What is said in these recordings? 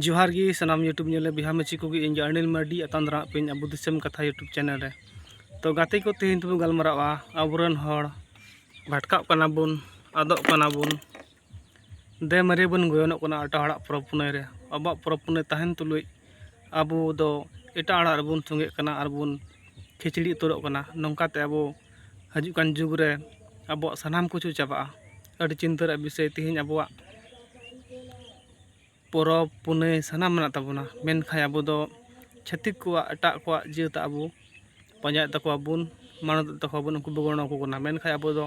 ᱡᱚᱦᱟᱨ ᱜᱮ ᱥᱟᱱᱟᱢ ᱤᱭᱩᱴᱩᱵᱽ ᱧᱮᱞᱮ ᱵᱤᱦᱟ ᱢᱟᱹᱪᱤ ᱠᱚᱜᱮ ᱤᱧ ᱜᱮ ᱟᱹᱱᱤᱞ ᱢᱟᱨᱰᱤ ᱟᱛᱟᱝ ᱫᱟᱨᱟᱜ ᱯᱮᱧ ᱟᱵᱚ ᱫᱤᱥᱚᱢ ᱠᱟᱛᱷᱟ ᱤᱭᱩᱴᱩᱵᱽ ᱪᱮᱱᱮᱞ ᱨᱮ ᱛᱚ ᱜᱟᱛᱮ ᱠᱚ ᱛᱮᱦᱮᱧ ᱫᱚᱵᱚᱱ ᱜᱟᱞᱢᱟᱨᱟᱜᱼᱟ ᱟᱵᱚᱨᱮᱱ ᱦᱚᱲ ᱵᱷᱟᱴᱠᱟᱜ ᱠᱟᱱᱟ ᱵᱚᱱ ᱟᱫᱚᱜ ᱠᱟᱱᱟ ᱵᱚᱱ ᱫᱮ ᱢᱟᱨᱮ ᱵᱚᱱ ᱜᱚᱭᱚᱱᱚᱜ ᱠᱟᱱᱟ ᱮᱴᱟᱜ ᱦᱚᱲᱟᱜ ᱯᱚᱨᱚᱵᱽ ᱯᱩᱱᱟᱹᱭ ᱨᱮ ᱟᱵᱚᱣᱟᱜ ᱯᱚᱨᱚᱵᱽ ᱯᱩᱱᱟᱹᱭ ᱛᱟᱦᱮᱱ ᱛᱩᱞᱩᱡ ᱟᱵᱚ ᱫᱚ ᱮᱴᱟᱜ ᱦᱚᱲᱟᱜ ᱨᱮᱵᱚᱱ ᱥᱚᱸᱜᱮᱜ ᱠᱟᱱᱟ ᱟᱨ ᱵᱚᱱ ᱠᱷᱤᱪᱲᱤ ᱩᱛᱟᱹᱨᱚᱜ ᱠᱟᱱᱟ ᱱᱚᱝᱠᱟᱛᱮ ᱟᱵᱚ ᱦᱤᱡᱩᱜ ᱠᱟᱱ ᱡᱩᱜᱽ ᱨᱮ ᱟᱵᱚᱣᱟᱜ ᱥᱟᱱᱟᱢ ᱠᱤᱪᱷᱩ ᱪᱟᱵᱟᱜᱼᱟ ᱟᱹᱰᱤ ᱪᱤᱱᱛᱟᱹ ᱨᱮᱭᱟᱜ ᱵᱤᱥᱚᱭ ᱛᱮᱦᱮᱧ ᱟᱵᱚᱣᱟᱜ ᱯᱚᱨᱚᱵᱽ ᱯᱩᱱᱟᱹᱭ ᱥᱟᱱᱟᱢ ᱢᱮᱱᱟᱜ ᱛᱟᱵᱚᱱᱟ ᱢᱮᱱᱠᱷᱟᱱ ᱟᱵᱚ ᱫᱚ ᱪᱷᱟᱹᱛᱤᱠ ᱠᱚᱣᱟᱜ ᱮᱴᱟᱜ ᱠᱚᱣᱟᱜ ᱡᱟᱹᱛ ᱟᱵᱚ ᱯᱟᱸᱡᱟᱭᱮᱫ ᱛᱟᱠᱚᱣᱟ ᱵᱚᱱ ᱢᱟᱱᱚᱛᱮᱫ ᱛᱟᱠᱚᱣᱟ ᱵᱚᱱ ᱩᱱᱠᱩ ᱵᱚᱱ ᱜᱚᱲᱚ ᱟᱠᱚ ᱠᱟᱱᱟ ᱢᱮᱱᱠᱷᱟᱱ ᱟᱵᱚ ᱫᱚ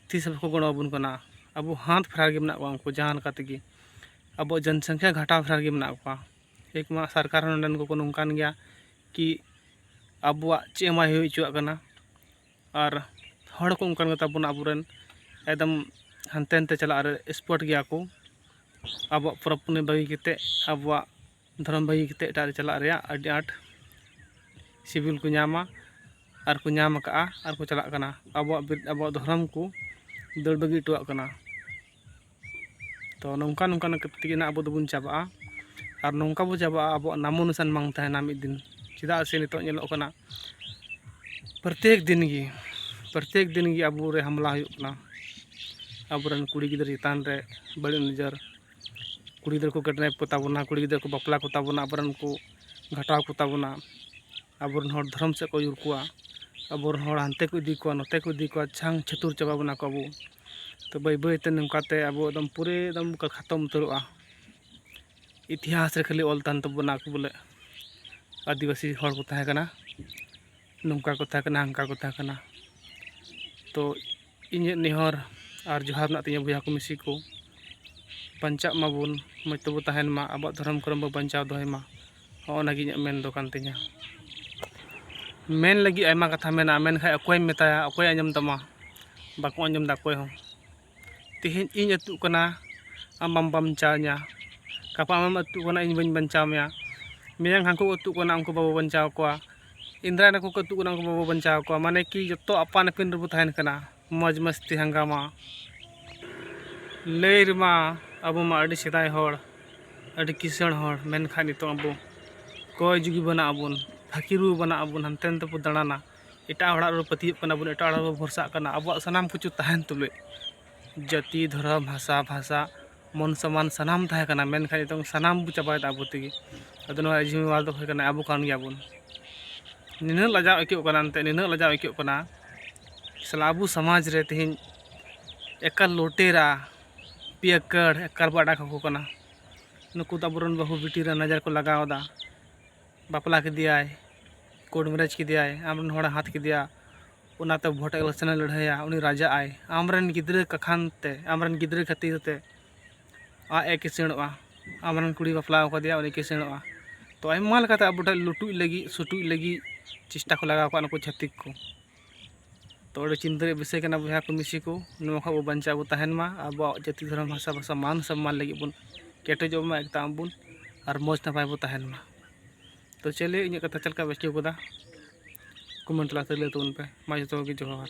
ᱛᱤᱥ ᱦᱚᱸ ᱵᱟᱠᱚ ᱜᱚᱲᱚ ᱟᱵᱚᱱ ᱠᱟᱱᱟ ᱟᱵᱚ ᱦᱟᱛ ᱯᱷᱮᱨᱟᱣ ᱨᱮᱜᱮ ᱢᱮᱱᱟᱜ ᱠᱚᱣᱟ ᱩᱱᱠᱩ ᱡᱟᱦᱟᱸ ᱞᱮᱠᱟ ᱛᱮᱜᱮ ᱟᱵᱚᱣᱟᱜ ᱡᱚᱱ ᱥᱚᱝᱠᱷᱟ ᱜᱷᱟᱴᱟᱣ ᱯᱷᱮᱨᱟᱣ ᱨᱮᱜᱮ ᱢᱮᱱᱟᱜ ᱠᱚᱣᱟ ᱮᱠ ᱢᱟ ᱥᱚᱨᱠᱟᱨ ᱦᱚᱸ ᱱᱚᱸᱰᱮᱱ ᱠᱚᱠᱚ ᱱᱚᱝᱠᱟᱱ ᱜᱮᱭᱟ ᱠᱤ ᱟᱵᱚᱣᱟᱜ ᱪᱮᱫ ᱦᱚᱸ ᱵᱟᱭ ᱦᱩᱭ ᱦᱚᱪᱚᱣᱟᱜ ᱠᱟᱱᱟ ᱟᱨ ᱦᱚᱲ ᱠᱚ ᱚᱱᱠᱟᱱ ᱜᱮᱛᱟ ᱵᱚᱱᱟ ᱟᱵᱚ ᱨᱮᱱ ᱮᱠᱫᱚᱢ ᱦᱟᱱᱛᱮ ᱱᱟᱛᱮ ᱪᱟᱞᱟᱜ ᱨᱮ ᱮᱠᱥᱯᱟᱨᱴ ᱜᱮᱭᱟ ᱠᱚ ᱟᱵᱚᱣᱟᱜ ᱯᱚᱨᱚᱵᱽ ᱯᱩᱱᱟᱹᱭ ᱵᱟᱹᱜᱤ ᱠᱟᱛᱮᱫ ᱟᱵᱚᱣᱟᱜ ᱫᱷᱚᱨᱚᱢ ᱵᱟᱹᱜᱤ ᱠᱟᱛᱮᱫ ᱮᱴᱟᱜ ᱨᱮ ᱪᱟᱞᱟᱜ ᱨᱮᱭᱟᱜ ᱟᱹᱰᱤ ᱟᱸᱴ ᱥᱤᱵᱤᱞ ᱠᱚ ᱧᱟᱢᱟ ᱟᱨ ᱠᱚ ᱧᱟᱢ ᱠᱟᱜᱼᱟ ᱟᱨ ᱠᱚ ᱪᱟᱞᱟᱜ ᱠᱟᱱᱟ ᱟᱵᱚᱣᱟᱜ ᱫᱷᱚᱨᱚᱢ ᱠᱚ ᱫᱟᱹᱲ ᱵᱟᱹᱜᱤ ᱦᱚᱴᱚᱣᱟᱜ ᱠᱟᱱᱟ ᱛᱚ ᱱᱚᱝᱠᱟ ᱱᱚᱝᱠᱟ ᱛᱮᱜᱮ ᱱᱟᱜ ᱟᱵᱚ ᱫᱚᱵᱚᱱ ᱪᱟᱵᱟᱜᱼᱟ ᱟᱨ ᱱᱚᱝᱠᱟ ᱵᱚ ᱪᱟᱵᱟᱜᱼᱟ ᱟᱵᱚᱣᱟᱜ ᱱᱟᱢᱚ ᱱᱤᱥᱟᱱ ᱵᱟᱝ ᱛᱟᱦᱮᱱᱟ ᱢᱤᱫ ᱫᱤᱱ ᱪᱮᱫᱟᱜ ᱥᱮ ᱱᱤᱛᱚᱜ ᱧᱮᱞᱚᱜ ᱠᱟᱱᱟ ᱯᱨᱚᱛᱮᱠ ᱫᱤᱱ ᱜᱮ ᱯᱨᱚᱛᱮᱠ ᱫᱤᱱ ᱜᱮ ᱟᱵᱚ ᱨᱮ ᱦᱟᱢᱞᱟ ᱦᱩᱭᱩᱜ ᱠᱟᱱᱟ ᱟᱵᱚᱨᱮᱱ ᱠᱩᱲᱤ ᱜᱤᱫᱽᱨᱟᱹ ᱪᱮᱛᱟᱱ ᱨᱮ ᱵᱟᱹᱲᱤᱡ ᱱᱚᱡᱚᱨ ᱠᱩᱲᱤ ᱜᱤᱫᱽᱨᱟᱹ ᱠᱚ ᱠᱤᱰᱱᱮᱯ ᱠᱚᱛᱟ ᱵᱚᱱᱟ ᱠᱩᱲᱤ ᱜᱤᱫᱽᱨᱟᱹ ᱠᱚ ᱵᱟᱯᱞᱟ ᱠᱚᱛᱟ ᱵᱚᱱᱟ ᱟᱵᱚᱨᱮᱱ ᱠᱚ ᱜᱷᱟᱴᱟᱣ ᱠᱚᱛᱟ ᱵᱚᱱᱟ ᱟᱵᱚ ᱨᱮᱱ ᱦᱚᱲ ᱫᱷᱚᱨᱚᱢ ᱥᱮᱫ ᱠᱚ ᱟᱹᱭᱩᱨ ᱠᱚᱣᱟ ᱟᱵᱚ ᱨᱮᱱ ᱦᱚᱲ ᱦᱟᱱᱛᱮ ᱠᱚ ᱤᱫᱤ ᱠᱚᱣᱟ ᱱᱚᱛᱮ ᱠᱚ ᱤᱫᱤ ᱠᱚᱣᱟ ᱪᱷᱟᱝ ᱪᱷᱟᱹᱛᱩᱨ ᱪᱟᱵᱟ ᱵᱚᱱᱟ ᱠᱚ ᱟᱵᱚ ᱛᱚ ᱵᱟᱹᱭ ᱵᱟᱹᱭ ᱛᱮ ᱱᱚᱝᱠᱟ ᱛᱮ ᱟᱵᱚ ᱮᱠᱫᱚᱢ ᱯᱩᱨᱟᱹ ᱮᱠᱫᱚᱢ ᱠᱚ ᱠᱷᱟᱛᱚᱢ ᱩᱛᱟᱹᱨᱚᱜᱼᱟ ᱤᱛᱤᱦᱟᱥ ᱨᱮ ᱠᱷᱟᱹᱞᱤ ᱚᱞ ᱛᱟᱦᱮᱱ ᱛᱟᱵᱚᱱᱟ ᱠᱚ ᱵᱚᱞᱮ ᱟᱹᱫᱤᱵᱟᱹᱥᱤ ᱦᱚᱲ ᱠᱚ ᱛᱟᱦᱮᱸ ᱠᱟᱱᱟ ᱱᱚᱝᱠᱟ ᱠᱚ ᱛᱟᱦᱮᱸ ᱠᱟᱱᱟ ᱦᱟᱱᱠᱟ ᱠᱚ ᱛᱟᱦᱮᱸ ᱠᱟᱱᱟ ᱛᱚ ᱤᱧᱟᱹᱜ ᱱᱮᱦᱚᱨ ᱟᱨ ᱡᱚᱦᱟᱨ ᱢᱮᱱᱟᱜ ᱛᱤᱧᱟᱹ ᱵᱚᱭᱦᱟ ᱠᱚ ᱢᱤᱥᱤ ᱠᱚ ᱵᱟᱧᱪᱟᱜ ᱢᱟᱵᱚᱱ ᱢᱚᱡᱽ ᱛᱮᱵᱚᱱ ᱛᱟᱦᱮᱱ ᱢᱟ ᱟᱵᱚᱣᱟᱜ ᱫᱷᱚᱨᱚᱢ ᱠᱚᱨᱚᱢ ᱵᱚᱱ ᱵᱟᱧᱪᱟᱣ ᱫᱚᱦᱚᱭ ᱢᱟ ᱦᱚᱸᱜᱼᱚ ᱱᱟ ᱜᱮ ᱤᱧᱟᱹᱜ ᱢᱮᱱ ᱫᱚ ᱠᱟᱱ ᱛᱤᱧᱟᱹ ᱢᱮᱱ ᱞᱟᱹᱜᱤᱫ ᱟᱭᱢᱟ ᱠᱟᱛᱷᱟ ᱢᱮᱱᱟᱜᱼᱟ ᱢᱮᱱᱠᱷᱟᱡ ᱚᱠᱚᱭᱮᱢ ᱢᱮᱛᱟᱭᱟ ᱚᱠᱚᱭ ᱟᱸᱡᱚᱢ ᱛᱟᱢᱟ ᱵᱟᱠᱚ ᱟᱸᱡᱚᱢ ᱫᱟ ᱚᱠᱚᱭ ᱦᱚᱸ ᱛᱮᱦᱮᱧ ᱤᱧ ᱟᱹᱛᱩᱜ ᱠᱟᱱᱟ ᱟᱢ ᱵᱟᱢ ᱵᱟᱧᱪᱟᱣ ᱤᱧᱟ ᱜᱟᱯᱟ ᱟᱢᱮᱢ ᱟᱹᱛᱩᱜ ᱠᱟᱱᱟ ᱤᱧ ᱵᱟᱹᱧ ᱵᱟᱧᱪᱟᱣ ᱢᱮᱭᱟ ᱢᱮᱭᱟᱝ ᱦᱟᱹᱱᱠᱩ ᱠᱚ ᱟᱹᱛᱩᱜ ᱠᱟᱱᱟ ᱩᱱᱠᱩ ᱵᱟᱵᱚ ᱵᱟᱧᱪᱟᱣ ᱠᱚᱣᱟ ᱤᱱᱫᱨᱟ ᱱᱟᱠᱚ ᱠᱚ ᱟᱹᱛᱩᱜ ᱠᱟᱱᱟ ᱩᱱᱠᱩ ᱵᱟᱵᱚ ᱵᱟᱧᱪᱟᱣ ᱠᱚᱣᱟ ᱢᱟᱱᱮ ᱠᱤ ᱡᱚᱛᱚ ᱟᱯᱟᱱ ᱟᱹᱯᱤᱱ ᱨᱮᱵᱚ ᱛᱟᱦᱮᱱ ᱠᱟᱱᱟ ᱢᱚᱡᱽ ᱢᱟᱥᱛᱤ ᱦᱟᱝᱜᱟᱢᱟ ᱞᱟᱹᱭ ᱨᱮᱢᱟ ᱟᱵᱚ ᱢᱟ ᱟᱹᱰᱤ ᱥᱮᱫᱟᱭ ᱦᱚᱲ ᱟᱹᱰᱤ ᱠᱤᱥᱟᱹᱬ ᱦᱚᱲ ᱢᱮᱱᱠᱷᱟᱱ ᱱᱤᱛᱚᱜ ᱟᱵᱚ ᱠᱚᱭ ᱡᱩᱜᱤ ᱵᱟᱱᱟᱜ ᱟᱵᱚᱱ ᱯᱷᱟᱹᱠᱤᱨ ᱵᱚ ᱵᱟᱱᱟᱜ ᱟᱵᱚᱱ ᱦᱟᱱᱛᱮ ᱱᱟᱛᱮ ᱵᱚ ᱫᱟᱬᱟᱱᱟ ᱮᱴᱟᱜ ᱦᱚᱲᱟᱜ ᱨᱮᱵᱚ ᱯᱟᱹᱛᱭᱟᱹᱜ ᱠᱟᱱᱟ ᱵᱚᱱ ᱮᱴᱟᱜ ᱦᱚᱲᱟᱜ ᱨᱮᱵᱚ ᱵᱷᱚᱨᱥᱟᱜ ᱠᱟᱱᱟ ᱟᱵᱚᱣᱟᱜ ᱥᱟᱱᱟᱢ ᱠᱤᱪᱷᱩ ᱛᱟᱦᱮᱱ ᱛᱩᱞᱩᱡ ᱡᱟᱹᱛᱤ ᱫᱷᱚᱨᱚᱢ ᱦᱟᱥᱟ ᱵᱷᱟᱥᱟ ᱢᱚᱱ ᱥᱚᱢᱟᱱ ᱥᱟᱱᱟᱢ ᱛᱟᱦᱮᱸ ᱠᱟᱱᱟ ᱢᱮᱱᱠᱷᱟᱱ ᱱᱤᱛᱚᱝ ᱥᱟᱱᱟᱢ ᱵᱚᱱ ᱪᱟᱵᱟᱭᱮᱫᱟ ᱟᱵᱚ ᱛᱮᱜᱮ ᱟᱫᱚ ᱱᱚᱣᱟ ᱨᱮᱭᱟᱜ ᱡᱤᱢᱟᱹᱣᱟᱨ ᱫᱚ ᱦᱩᱭᱩᱜ ᱠᱟᱱᱟ ᱟᱵᱚ ᱠᱟᱱ ᱜᱮᱭᱟ ᱵᱚᱱ ᱱᱤᱱᱟᱹᱜ ᱞᱟᱡᱟᱣ ᱟᱹᱭᱠᱟᱹᱜ ᱠᱟᱱᱟ ᱮᱱᱛᱮᱫ ᱱᱤᱱᱟᱹᱜ ᱞᱟᱡᱟᱣ ᱟᱹᱭᱠᱟᱹᱜ ᱠᱟᱱᱟ ᱥᱟᱞᱟ ᱟᱵᱚ ᱥᱚᱢᱟᱡᱽ ᱨᱮ ᱛᱮᱦᱮᱧ ᱮᱠᱟᱞ ᱞᱩᱴᱮᱨᱟ ᱯᱤᱭᱟᱠᱟᱨ ᱮᱠᱟᱞ ᱵᱚᱱ ᱟᱲᱟᱜ ᱠᱟᱠᱚ ᱠᱟᱱᱟ ᱱᱩᱠᱩ ᱫᱚ ᱟᱵᱚ ᱨᱮᱱ ᱵᱟᱹᱦᱩ ᱵᱤᱴᱤ ᱨᱮ ᱱᱚᱡᱚᱨ ᱠᱚ ᱞᱟᱜᱟᱣᱫᱟ ᱵᱟᱯᱞᱟ ᱠᱮᱫᱮᱭᱟᱭ ᱠᱳᱨᱴ ᱢᱮᱨᱮᱡᱽ ᱠᱮᱫᱮᱭᱟᱭ ᱟᱢ ᱨᱮᱱ ᱦᱚᱲᱮ ᱦᱟᱛᱟᱣ ᱠᱮᱫᱮᱭᱟ ᱚᱱᱟᱛᱮ ᱵᱷᱳᱴ ᱤᱞᱮᱠᱥᱚᱱ ᱮ ᱞᱟᱹᱲᱦᱟᱹᱭᱟ ᱩᱱᱤ ᱨᱟᱡᱟᱜ ᱟᱭ ᱟᱢᱨᱮᱱ ᱜᱤᱫᱽᱨᱟᱹ ᱠᱟᱠᱷᱟᱱ ᱛᱮ ᱟᱢᱨᱮᱱ ᱜᱤᱫᱽᱨᱟᱹ ᱠᱷᱟᱹᱛᱤᱨ ᱛᱮ ᱟᱡ ᱮ ᱠᱤᱥᱟᱹᱬᱚᱜᱼᱟ ᱟᱢᱨᱮᱱ ᱠᱩᱲᱤ ᱵᱟᱯᱞᱟ ᱠᱟᱫᱮᱭᱟ ᱩᱱᱤ ᱠᱤᱥᱟᱹᱬᱚᱜᱼᱟ ᱛᱚ ᱟᱭᱢᱟ ᱞᱮᱠᱟᱛᱮ ᱟᱵᱚ ᱴᱷᱮᱱ ᱞᱩᱴᱩᱡ ᱞᱟᱹᱜᱤᱫ ᱥᱩᱴᱩᱡ ᱞᱟᱹᱜᱤᱫ ᱪᱮᱥᱴᱟ ᱠᱚ ᱞᱟᱜᱟᱣ ᱠᱟᱜᱼᱟ ᱱᱩᱠᱩ ᱪᱷᱟᱹᱛᱤᱠ ᱠᱚ ᱛᱚ ᱟᱹᱰᱤ ᱪᱤᱱᱛᱟᱹ ᱨᱮᱭᱟᱜ ᱵᱤᱥᱚᱭ ᱠᱟᱱᱟ ᱵᱚᱭᱦᱟ ᱠᱚ ᱢᱤᱥᱤ ᱠᱚ ᱱᱚᱣᱟ ᱠᱷᱚᱱ ᱵᱚ ᱵᱟᱧᱪᱟᱣ ᱵᱚ ᱛᱟᱦᱮᱱ ᱢᱟ ᱟᱵᱚᱣᱟᱜ ᱡᱟᱹᱛᱤ ᱫᱷᱚᱨᱚᱢ ᱵᱷᱟᱥᱟ ᱵᱷᱟᱥᱟ ᱢᱟᱱ ᱥᱚᱱᱢᱟᱱ ᱞᱟᱹᱜᱤᱫ ᱵᱚᱱ ᱠᱮᱴᱮᱡᱚᱜ ᱢᱟ ᱮᱠᱛᱟᱜ ᱢᱟᱵᱚᱱ ᱟᱨ ᱢᱚᱡᱽ ᱱᱟᱯᱟᱭ ᱵᱚᱱ ᱛᱟᱦᱮᱱ ᱢᱟ ᱛᱚ ᱪᱮᱞᱮ ᱤᱧᱟᱹᱜ ᱠᱟᱛᱷᱟ ᱪᱮᱫ ᱞᱮᱠᱟ ᱵᱩᱡᱷᱟᱹᱣ ᱠᱮᱫᱟ ᱠᱚᱢᱮᱱᱴ ᱛᱟᱞᱟᱛᱮ ᱞᱟᱹᱭ ᱛᱟᱵᱚᱱ ᱯᱮ ᱢᱟ ᱡᱚᱛᱚ ᱠᱚᱜᱮ ᱡᱚᱦᱟᱨ